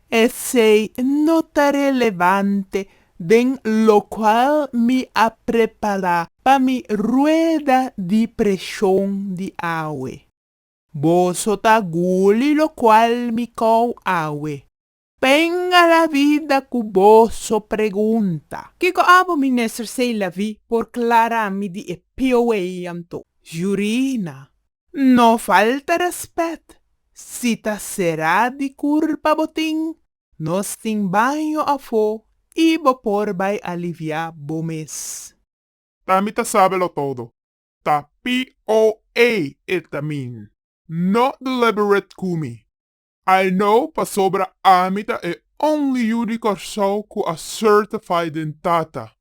Esei no ta relevante den locual mi a prepara pa mi rueda di presion di awe. Boso ta guli locual mi cou awe. Penga la vida cu boso pregunta. Kico abo Minister Seilavi por clara mi di e pioe anto? Jurina, N no falta respet si ta sera di curpa bo tin, nos tin baño afo y bo por bay alivia bo mes. Pa mi ta sabe lo todo. Ta POA e ta min. No deliberate cu mi. I know pasobra ami ta e only yu di Corsou cu a certify den Tata.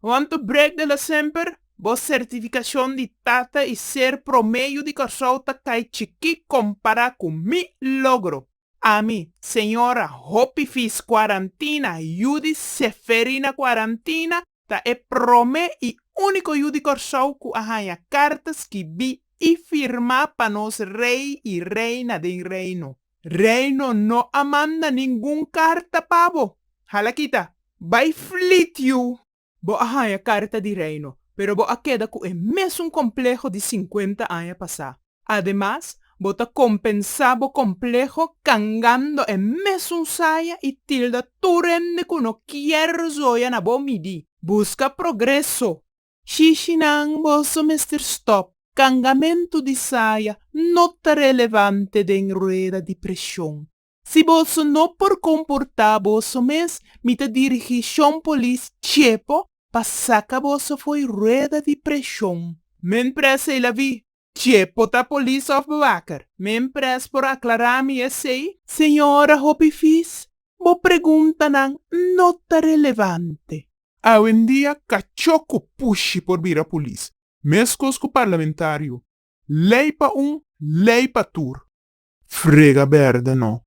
Want to break the la semper, bo certificacion di tata y ser prome yu di Corsou ta cay chiqui compara cu mi logro. Ami, señora, hopi fis cuarantina yu di Seferina Cuarantina ta e prome y unico yu di Corsou cu a haya carta skibi y firma pa nos Rey y Reina den Reino. Reino no a manda ningun karta pa bo. Hala kita! Bai flit yu! Bo a haña karta di Reino, pero bo a keda ku e mesun kompleho di sinkuenta aña pasá. Ademas, bo ta kompensá bo kompleho kangando e mesun saya i tilda tur hende ku no kier zoya na bo midí. Buska progreso! Shishinan boso mester stop. Cangamentu di saya no ta relevante den rueda di presion. Si boso no por comporta boso mes mi ta dirigi Shon Polis chepo pa saca boso foy rueda di presion. Men presa y la vi. Tje, por ta polis of bewaker. Men pres por aclara mi esey? Señora hopi fis, bo preguntanan no ta relevante. Awendia cachó cu pushi por bira polis, mescos cu parlamentario. Ley pa un, ley pa tur. Frega berde no.